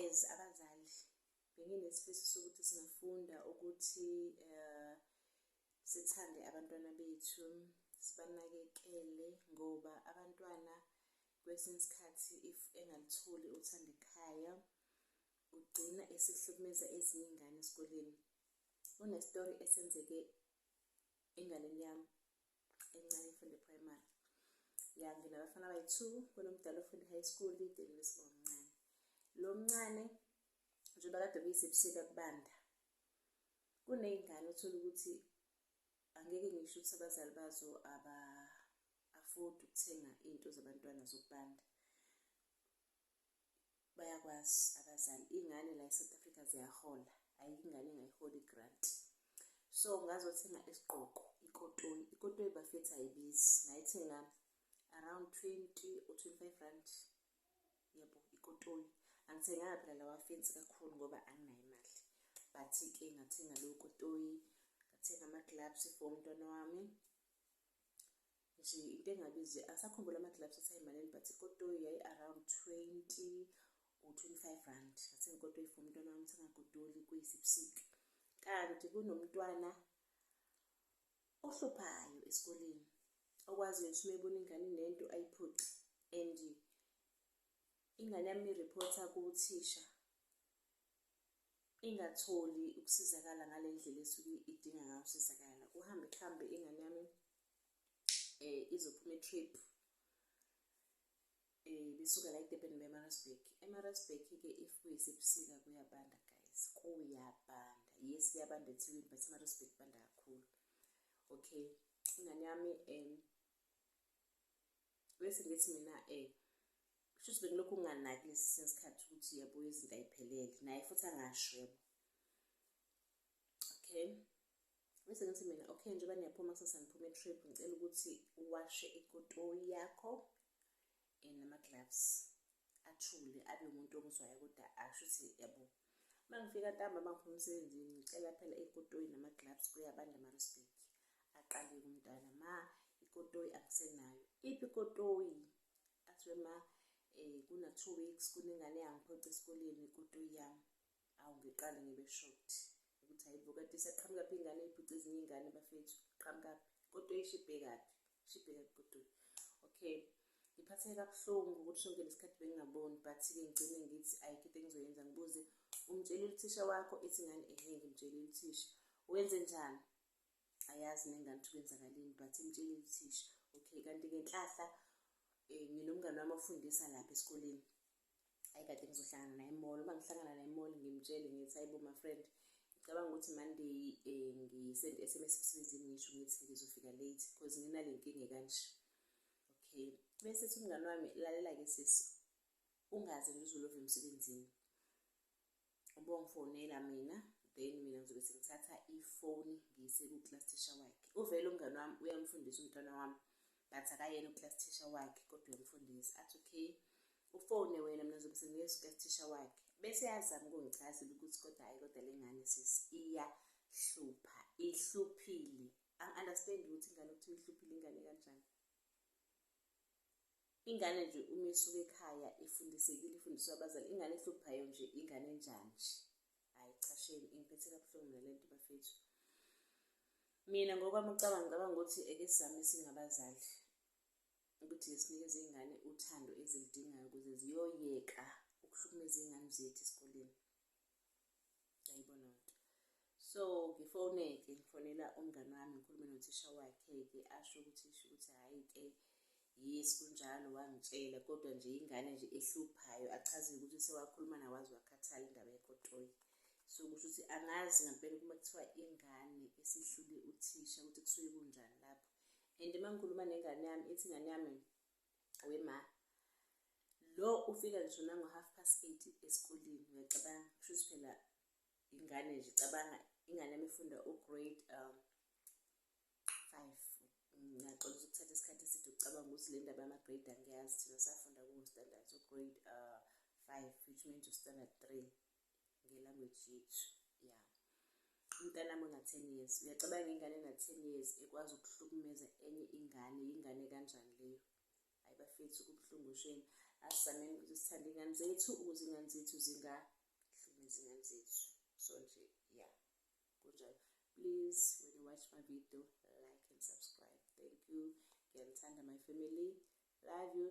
as abazali benginesifiso sokuthi singafunda ukuthi uh, sithande abantwana bethu sibanakekele ngoba abantwana kwesinye isikhathi if engalitholi uthanda ekhaya ugcina esihlukumeza ezinye ingane esikoleni unestori esenzeke enganeni yami encane ifunda eprimary ya nginabafana abayi-two kunomdala ofunda i-high school idelile siba omncane lo mncane njengoba kade kuyisebusika kubanda kuney'ngane uthole ukuthi angeke ngisho ukuthi abazali bazo aba-afodi ukuthenga iy'nto zabantwana zokubanda bayakwazi abazali ingane la eSouth Africa ziyahola ayikho ingane engayiholi igrant so ngazothenga isigqoko ikotoyi ikotoyi bafethu ayibizi ngayithenga around 20 or 25 rand yebo ikotoyi angithenganga phela lawa fensi kakhulu ngoba anginayo imali but-ke ngathenga lowo kotoyi ngathenga ama-gloves for umntwana wami nje into engabizi asakhumbula ama-gloves athi ayimalini but ikotoyi yayi-around twenty or twenty-five rand ngathenga ikotoyi for umntwana wami sengagodoli kuyisibusika kanti kunomntwana ohluphayo esikoleni okwaziyo ukuthi uma ebona ingane nento ayiphuce and ingane yami irephotha kuthisha ingatholi ukusizakala ngale ndlela esuke idinga ngayo ukusizakala kuhambe kuhambe ingane yami eh izophuma etrip eh besuka la eDurban beMarasburg eMarasburg ke if kuyisebusika kuyabanda guys kuyabanda yes kuyabanda eThekwini but eMarasburg banda kakhulu okay ingane yami um bese ngithi mina eh kushuthi bengilokhu nginganaki lesi sesikhathi ukuthi yabo izinto ayiphelele naye futhi angasho yabo okay bese ngithi mina okay njengoba niyaphuma kusasa niphuma etrip ngicela ukuthi uwashe ikotoyi yakho and eh, nama-gloves athule abe umuntu omuzwayo kodwa asho ukuthi yabo uma ngifika ntambama ngiphuma emsebenzini ngicela phela ikotoyi nama-gloves kuyabanda marosbek aqale kumntwana ma ikotoyi angisenayo iphi ikotoyi athiwe ma um eh, kuna-two weeks kunengane yangiphoca esikoleni ikotoyi yami awu ngiqale ngibe shocked ukuthi hayibo kanti isaqhamuka phi ingane ibhuce ezinye iy'ngane bafethu qhamukaphi kodwa ishibhekaphi shibhekaphi kodwa okay ngiphatheke kabuhlungu ukuthi sonke lesikhathi bengingaboni but-ke ngigcine ngithi ayikho into engizoyenza ngibuze umtshele uthisha wakho ithi ngani ehe ngimtshele uthisha wenze njani ayazi nengane ukuthi kwenzakalini but imtshele uthisha okay kanti ngenhlahla um nginomngane wami ofundisa lapha esikoleni ayi kade ngizohlangana naye emall uma ngihlangana naye emall ngimtshele ngithi hayibo my friend ngicabanga ukuthi monday um ngisend s m s emsebenzini ngisho ngithi ngizofika late because nginale nkinga kanje okay bese ethi umngane wami lalela-ke sisi ungaze ngizulove emsebenzini ubongifonela mina then mina ngizobe sengithatha ifoni ngiyise ku-class teacher wakhe uvele umngane wami uyamfundisa umntwana wami but akayena u-class teacher wakhe kodwa uyamfundisa athi okay ufone wena mina ngizobe sengiye ku-class teacher wakhe bese yazama ukungichazela ukuthi kodwa hhayi kodwa le ngane sisi iyahlupha ihluphile angi-understand ukuthi ingane okuthiwa ihluphile ingane kanjani Ingane nje uma isuka ekhaya ifundisekile ifundiswa abazali ingane ehluphayo nje ingane enjanji hayi cha shame ingiphethe kabuhlungu mina lento bafethu mina ngokwami ucabanga ngicabanga ukuthi eke sami singabazali ukuthi ngisinikeze ingane uthando ezilidingayo ukuze ziyoyeka ukuhlukumeza ingane zethu esikoleni ayibona nto so ngifone-ke ngifonela umngani wami ngikhulume nothisha wakhe-ke asho ukuthi sho ukuthi hhayi-ke yes kunjalo wangitshela kodwa nje ingane nje ehluphayo achazile ukuthi sewakhuluma nawazi wakhathala indaba yekotoyi so kusho ukuthi angazi ngampela ukuba kuthiwa ingane esihlule uthisha ukuthi kusuke kunjani lapho and uma ngikhuluma nengane yami ithi ingane yami we ma lo ufika ngisho nango half past eight esikoleni ngiyacabanga kushuthi phela ingane nje cabanga ingane yami ifunda ugrade um five ngiyaxola ukuthatha isikhathi eside ukucabanga ukuthi le ndaba yama-grade angiyazi thina safunda kuwo standard so grade uh, five which means standard three ngelanguage yethu ya umntanami ona-ten years uyacabanga ingane ena-ten years ekwazi ukuhlukumeza enye ingane yingane kanjani leyo hayi bafethu kubuhlungu sheni asizameni ukuthi sithande iy'ngane zethu ukuze iy'ngane zethu zingahlumezi iy'ngane zethu so nje ya kunjalo please when you watch my video like and subscribe thank you ngiyanithanda my family love you